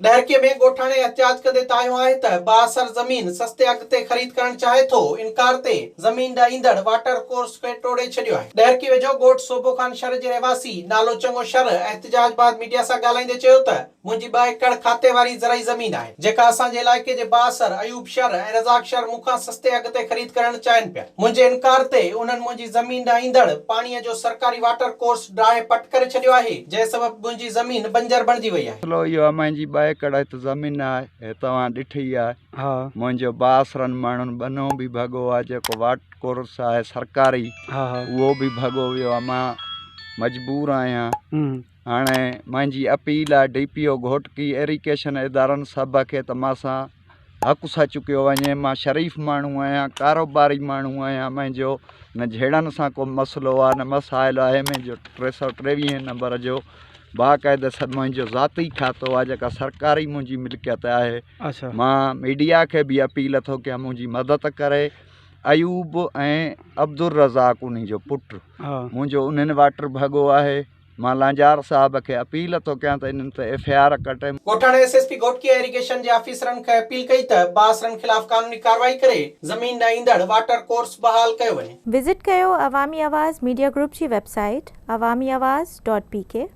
ڏهرڪي ۾ ڳوٺاڻي احتجاج ڪندي تايون آهي ته بااثر زمين سستي اگهه تي خريد ڪرڻ چاهي ٿو، انڪار تي زمين ڏانهن ايندڙ واٽر ڪورس کي ٽوڙي ڇڏيو آهي. ڏهرڪي ويجهو ڳوٺ صوڀو خان شر جي رهواسي نالو چڱو شر احتجاج بعد ميڊيا سان ڳالهائيندي چيو ته، منهنجي ٻه ايڪڙ کاتي واري زرعي زمين آهي، جيڪا اسان جي علائقي جي بااثر ايوب شر ۽ رزاق شر مون کان سستي اگهه تي خريد ڪرڻ چاهين پيا. منهنجي انڪار تي انهن منهنجي زمين ڏانهن ايندڙ پاڻيء جو سرڪاري واٽر ڪورس ڊاهي پٽ ڪري ڇڏيو آهي، جنهن سبب منهنجي زمين بنجر بڻجي وئي آهي. مسئلو اهو آهي منهنجي ٻه ايڪڙ هت زمين آهي، هي توهان ڏٺي ئي آهي. منهنجو بااثرن ماڻهن ٻنهو به ڀڳو آهي، جيڪو واٽر ڪورس آهي سرڪاري، اهو به ڀڳو ويو آهي. مان مجبور آهيان. هاڻي منهنجي اپيل آ D P O Ghotki irrigation ادارن سڀ کي ته مان سان حق سان چڪيو وڃي مان شريف ماڻهو آهيان ڪاروباري ماڻهو آهيان منهنجو نه جهيڙن سان ڪو مسئلو آ نه مسائل آهي منهنجو ٽي سؤ ٽيويهين نمبر جو باقاعده سڀ منهنجو ذاتي کاتو آ جيڪا سرڪاري منهنجي ملڪيت آهي مان ميڊيا کي به اپيل ٿو ڪيان منهنجي مدد ڪري ايوب ۽ عبدالرزاق انهي جو پٽ منهنجو انهن واٽر ڀڳو آهي مان لانجار صاحب کي اپيل ٿو ڪيان ته انهن تي ايف اي آر ڪٽي. ڳوٺاڻي S S P Ghotki ۽ irrigation جي آفيسرن کي اپيل ڪئي ته بااثرن خلاف قانوني ڪارروائي ڪري زمين ڏانهن ايندڙ واٽر ڪورس بحال ڪيو وڃي. وزٽ ڪيو عوامي آواز ميڊيا گروپ جي website Awami Awaz dot P ڪي.